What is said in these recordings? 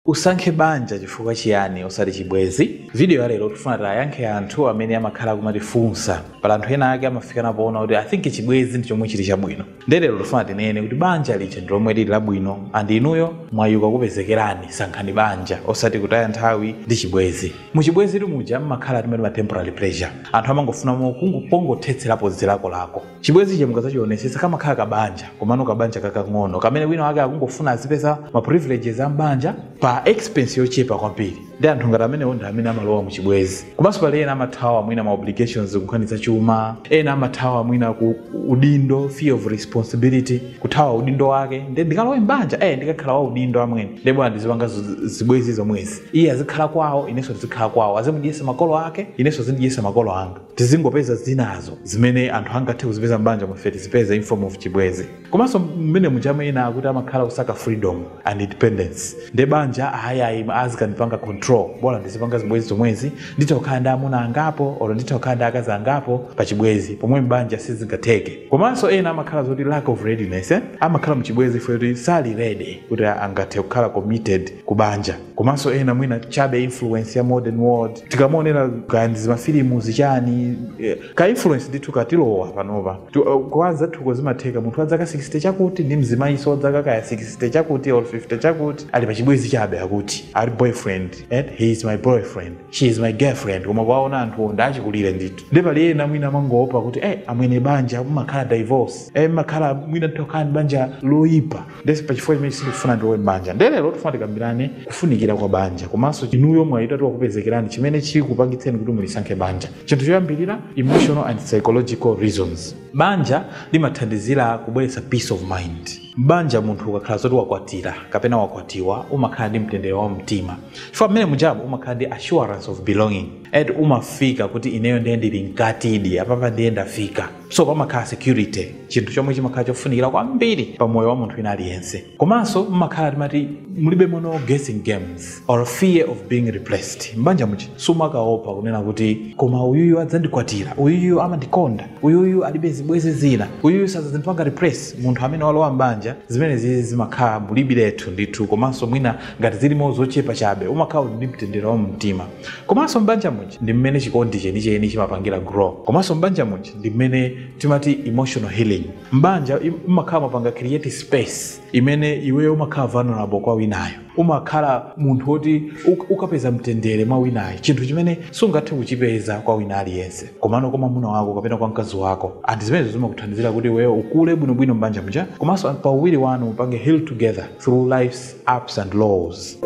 Usankhe banja chifukwa chiyani osati chibwezi? Video ya lero tifuna tiwayankhe anthu amene amakhala akumatifunsa. Pali anthu ena ake amafikana poona kuti I think chibwezi ndi chomwe chili chabwino. Nde lero tifuna tinene kuti banja lija ndi lomwe lili labwino and inuyo mwayi ukakupezekerani sankhani banja osati kutaya nthawi ndi chibwezi. Mu chibwezitu muja mmakhala timati ma temporary pleasure. Anthu amangofuna mo kungo pongothetserapo zilakolako. chibwenzichi mukadzachionesesa kamakhala kabanja komano kabanja kakang'ono kamene wina wake akungofuna azipeza ma privileges a mbanja pa expense yochepa kwambiri nde anthu ngati amenewo ndi amene amalowa mu chibwenzi komanso pali ena amathawa mwina ma obligations kunkhani za chuma ena amathawa mwina ku udindo fear of responsibility kuthawa udindo wake nde ndikalowe mbanja eh ndikakhala wa udindo amwene nde bola ndizipanga zo- zibwenzi zomwezi iye azikhala kwawo inenso ndizikhala kwawo azimudyesa makolo ake inenso zindidyesa makolo anga tizingopeza zinazo zimene anthu angathe kuzipeza m'banjamo ife tizipeze in form of chibwezi komanso mmene mujamu ena akuti amakhala kusaka freedom and independence nde banja ahayayi azikanipanga control bola ndizipanga zibwezi zomwezi nditha kukhala ndi amuna angapo olo nditha kukhala ndi akazi angapo pa chibwezi pomwe m'banja sizingatheke komanso ena amakhala zoti lack of readiness eh? amakhala mchibwezi chifukwa choti sali ready kuti angathe kukhala committed ku banja komanso ena mwina chabe influence ya modern world tikamaonera kaya ndi zimafilimu zichani eh, ka influence ndithu katilowa panopa Tu- eh, kwa anzathuko zimatheka munthu wa zaka 60 chakuti ndi mzimayiso wa zaka kaya 60 chakuti or 50 chakuti ali pa chibwezi chabe akuti ali boyfriend he is my boyfriend she is my girlfriend koma kuwaona anthuwo ndi achikulire ndithu nde pali ena mwina amangoopa kuti eh amwene banja mumakhala divorce eh mumakhala mwina nditha kukhala ndi banja loyipa nde pachifukwa chimenechi sindikufuna ndilowe m'banja nde lero tifuna tikambirane kufunikira kwa banja komanso inuyo mwayi utati wakupezekerani chimene chikupangitseni kuti mulisankhe banja chinthu choyambirira emotional and psychological reasons banja limathandizira kubweretsa peace of mind m'banja munthu ukakhala zoti wakwatira kapena wakwatiwa umakhala ndi mtendere wa mtima chifukwa mmene mujamu umakhala ndi assurance of belonging eti umafika kuti ineyo ndiye ndili mkatidi apapa ndiye ndafika so pamakhala security chinthu chomwe chimakhala chofunikira kwambiri pa moyo wa munthu wina aliyense komanso mmakhala timati mulibemo no guessing games or fear of being replaced mbanja muja sumakaopa kunena kuti koma uyuyu adzandikwatira uyuyu amandikonda uyuyu alibe zibwezi zina uyuyu sadzandipanga replace munthu amene walowa mbanja zimenezi zimakhala mulibiretu ndithu komanso mwina ngati zilimo zochepa chabe umakhala uli ndi mtendere wa mumtima Komanso m'banja muja ndi mmene chikondi chenicheni chimapangira grow. Komanso m'banja muja ndi mmene timati emotional healing. M'banja im- mmakhala mumapanga create space imene iweyo umakhala vulnerable kwa winayo. Umakhala munthu woti uk- ukapeza mtendere mwa winayo, chinthu chimene sungathe kuchipeza kwa wina aliyense. Komano kwa mwamuna wako kapena kwa mkazi wako, and zimenezo zimakuthandizira kuti iweyo ukule bwinobwino m'banja muja, komanso pa uwiri wanu mupange heal together through life's ups and lows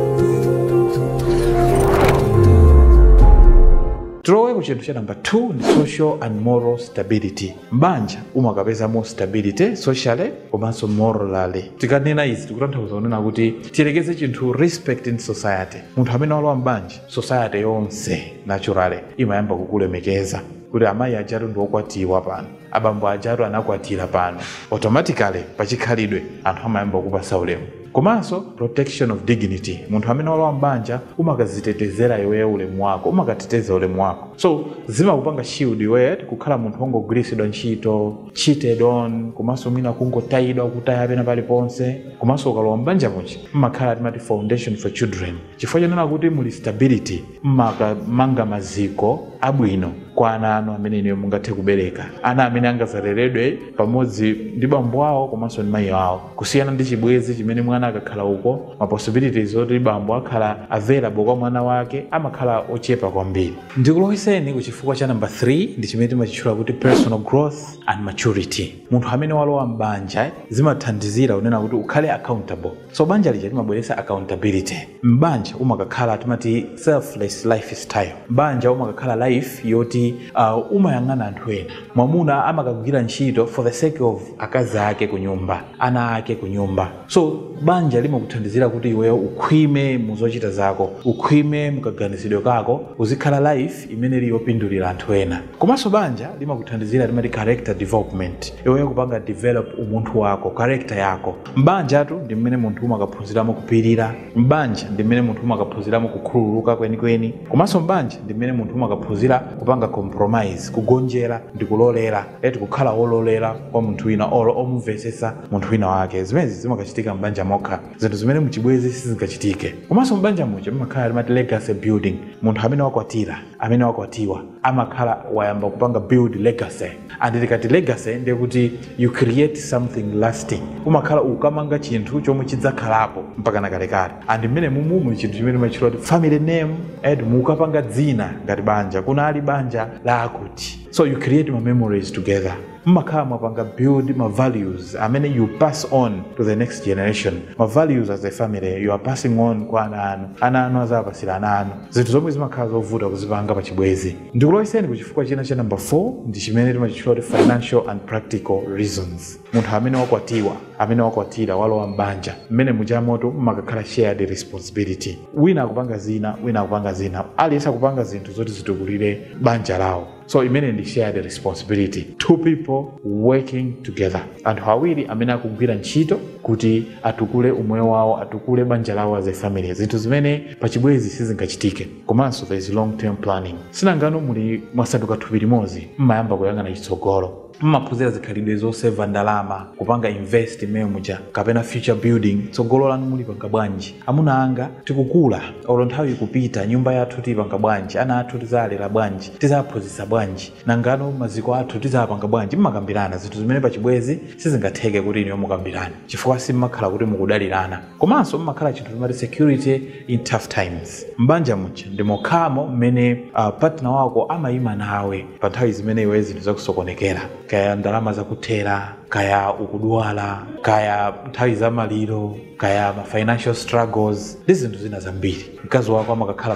tilowe ku chinthu cha namba 2 ndi social and moral stability m'banja umakapezamo stability socially komanso morally tikanena izi tikutanthauza kunena kuti tiyerekeze chinthu respect in society munthu amene walowa m'banja society yonse naturally imayamba kukulemekeza kuti amayi ajatu ndi okwatiwa pano abambo ajatu anakwatira pano automatically pachikhalidwe anthu amayamba kupasa ulemu komanso protection of dignity munthu amene walowa mbanja umakazitetezera iweyo ulemu wako umakateteza ulemu wako so zimakupanga shield iweyo kukhala munthu wongogwiritsidwa ntchito cheated on komanso mwina kungotayidwa kutaya pena paliponse komanso ukalowa mbanja muja mmakhala timati foundation for children Chifukwa chonena kuti muli stability mmakamanga maziko abwino kwa ana anu amene inuyo mungathe kubereka, ana amene angazaleredwe pamodzi ndi bambo awo komanso ndi mayi awo kusiyana ndi chibwenzi chimene mwana akakhala uko ma possibilities oti bambo akhala available kwa mwana wake amakhala ochepa kwambiri. Ndikulowetseni ku chifukwa cha number 3 ndi chimene timachitchula kuti personal growth and maturity. Munthu amene walowa m'banja zimathandizira kunena kuti ukhale accountable. so banja lija limabweretsa accountability m'banja umakakhala timati selfless lifestyle m'banja umakakhala life yoti uh, umayang'ana anthu ena mwamuna amakagwira ntchito for the sake of akazi ake ku nyumba ana ake ku nyumba so banja limakuthandizira kuti iweyo ukhwime mu zochita zako ukhwime mukaganizidwe kako uzikhala life imene ili yopindulira anthu ena komanso banja limakuthandizira timati character development iweyo kupanga develop umunthu wako character yako M'banjatu ndi mmene munthu umakaphunziramo kupirira. M'banja ndi mmene munthu umakaphunziramo kukhululuka kwenikweni. Komanso m'banja ndi mmene munthu umakaphunzira kupanga compromise, kugonjera ndi kulolera, eti kukhala wololera kwa munthu wina olo omumvetsetsa munthu wina wake. Zimenezi zimakachitika m'banja mokha, zinthu zimene muchibwenzi sizingachitike. Komanso m'banja muja mumakhala timati legacy building, munthu amene wakwatira, amene wakwatiwa amakhala wayamba kupanga build legacy. and tikati legacy ndiye kuti you create something lasting umakhala ukamanga chinthu chomwe chidzakhalapo mpaka nakalekale and mmene mumumu chinthu chimene timachitcha kuti family name and mukapanga dzina ngati banja kunali banja la akuti so you create ma memories together mmakhala mwapanga build ma values amene you pass on to the next generation ma values as a family you are passing on kwa ana anu ana anu azapasira ana anu zinthu zomwe zimakhala zovuta kuzipanga pa chibwezi ndikulowetseni ku chifukwa china cha namba 4 ndi chimene timachitchula kuti financial and practical reasons munthu amene wakwatiwa amene wakwatira walowa m'banja mmene mujamo mmakakhala shared responsibility wina akupanga zina wina akupanga zina aliyense akupanga zinthu zoti zitukulire banja lawo so imeneyo ndi shared responsibility two people working together anthu awiri amene akugwira ntchito kuti atukule umoyo wawo atukule banja lawo as a family zinthu zimene pachibwezi sizingachitike Komanso there is long term planning. Sinangano muli mwasanduka thupi limodzi, mmayamba kuyang'ana chitsogolo. Mmaphunzira zikhalidwe zoseva ndalama, kupanga invest mmene muja kapena future building, tsogolo lanu mulipanga bwanji? Amuna anga tikukula olo nthawi ikupita, nyumba yathu tiyipanga bwanji, ana athu tizawalera bwanji, tizawaphunzitsa bwanji, nangano maziko athu tizawapanga bwanji? Mmakambirana zinthu zimene pachibwenzi sizingatheke kuti inuyo mukambirane chifukwa simmakhala kuti mukudalirana. komanso mumakhala chinthu timati security in tough times m'banja muja ndi mokhamo mmene uh, partner wako amayima nawe pa nthawi zimene iwe zinthu zakusokonekera kaya ndalama zakuthera kaya ukudwala kaya nthawi za maliro kaya ma financial struggles ndi zinthu zina zambiri mkazi wako amakakhala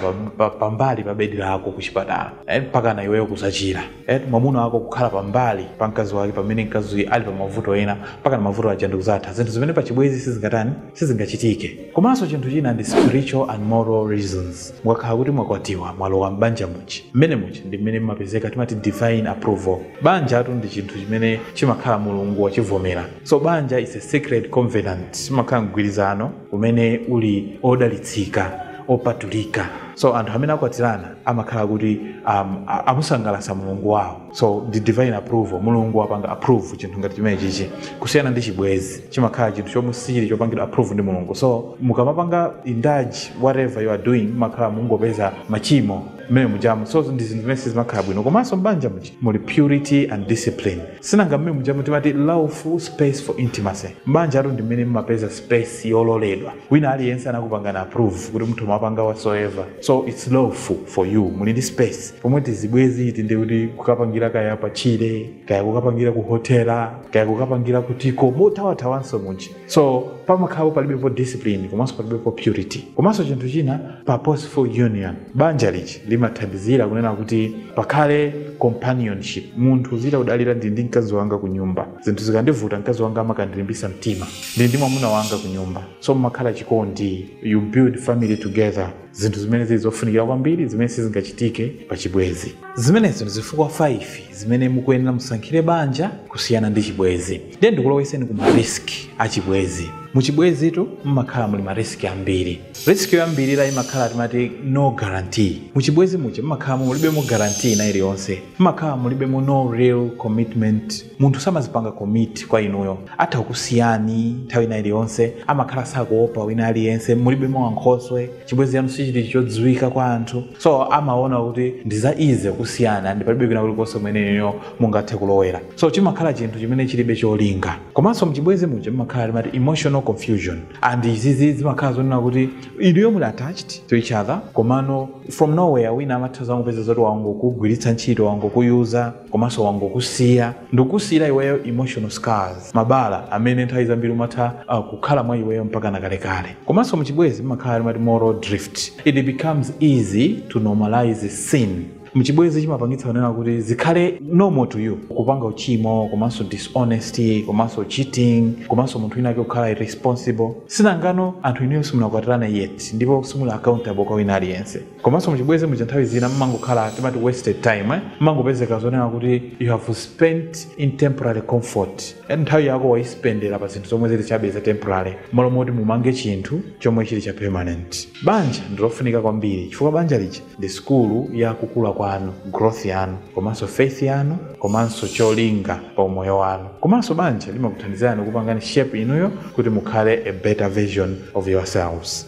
pambali pa, pa, pa bedi lako ku chipatala eh, mpaka na iweyo kuzachira mwamuna wako kukhala pambali pa mkazi wake pamene mkazi ali pa mavuto ena mpaka na mavuto aja ndikuzatha zinthu zimene pa chibwezi sizingatani sizingachitike komanso chinthu china ndi spiritual and moral reasons mukakhala kuti mwakwatiwa mwalowa m'banja muja mmene muja ndi mmene mmapezeka timati divine approval banjatu ndi chinthu chimene chimakhala mulungu wachivomera so banja is a sacred covenant chimakhala mgwirizano umene uli odalitsika opatulika so anthu amene akwatirana amakhala kuti um, amusangalatsa mulungu wawo so ndi divine approval mulungu wapanga approve chinthu ngati chimenechichi kusiyana ndi chibwezi chimakhala chinthu chomwe sichili chopangidwa approve ndi mulungu so mukamapanga indulge whatever you are doing mmakhala mungopeza machimo mmene mujamo so ndi zinthu zimene sizimakhala bwino komanso mbanja muja muli purity and discipline Sinanga mmene mujamu timati lawful space for intimacy. M'banjatu ndi mmene mmapeza space yololedwa. Wina aliyense anakupangani approve kuti mutha kumapanga whatsoever. So it's lawful for you. Muli ndi space. Pomwe tizibwezi iti ndiye kuti kukapangira kaya patchire, kaya kukapangira kuhotela, kaya kukapangira kutiko, mothawathawanso muja. so pamakhalapo palibepo discipline komanso palibepo purity komanso chinthu china purposeful union banja lichi limathandizira kunena kuti pakhale companionship munthu uzitha kudalira ndili ndi mkazi wanga ku nyumba zinthu zikandivuta mkazi wanga amakandilimbisa mtima ndili ndi mwamuna wanga ku nyumba so mumakhala chikondi you build family together zinthu zimene zili zofunikira kwambiri zimene sizingachitike pa chibwenzi zimenezo ndi zifukwa 5 zimene mukuyenera musankhire banja kusiyana ndi chibwenzi ndiye ndikulowetseni ku mariski a chibwenzi mu chibwenzitu mmakhala muli mariski ambiri risk yoyambirira imakhala timati no guarantee mu chibwenzi muja mmakhala mulibemo guarantee ina iliyonse mmakhala mulibemo no real commitment munthu samazipanga commit kwa inuyo atha kukusiyani nthawi ina iliyonse amakhala sakuopa wina aliyense mulibemo ankhoswe chibwenzi chanu sichili chodziwika kwa anthu so amaona kuti ndi za easy kusiyana ndi palibe kwina kulikonse kumene inuyo mungathe kulowera so chimakhala chinthu chimene chilibe cholinga komanso mchibwenzi muja mumakhala timati emotional confusion and izizi zimakhala zonena kuti inuyo muli attached to each other komano from nowhere wina amatha zangopeza zoti wangokugwiritsa ntchito wangokuyuza komanso wangokusiya ndikukusiyira iweyo emotional scars mabala amene nthawi zambiri amatha uh, kukhala mwa iweyo mpaka na kalekale komanso muchibwezi mmakhala timati moral drift it becomes easy to normalize sin mchibwezi chimapangitsa kunena kuti zikhale normal to you kupanga uchimo komanso dishonesty komanso cheating komanso munthu wina ake kukhala irresponsible sinangano anthu inuyo simunakwatirana yet ndipo simuli accountable kwa wina aliyense komanso muchibwezi muja nthawi zina mmangokhala timati wasted time eh? mmangopezeka zonena kuti you have spent in temporary comfort and nthawi yako waispendera pa zinthu zomwe zili chabe za temporary malo moti mumange chinthu chomwe chili cha permanent banja ndilofunika kwambiri chifukwa banja lija ndi sikulu ya kukula kwanu growth yanu komanso faith yanu komanso cholinga pa umoyo wanu komanso banja limakuthandizani kupangani shape inuyo kuti mukhale a better version of yourselves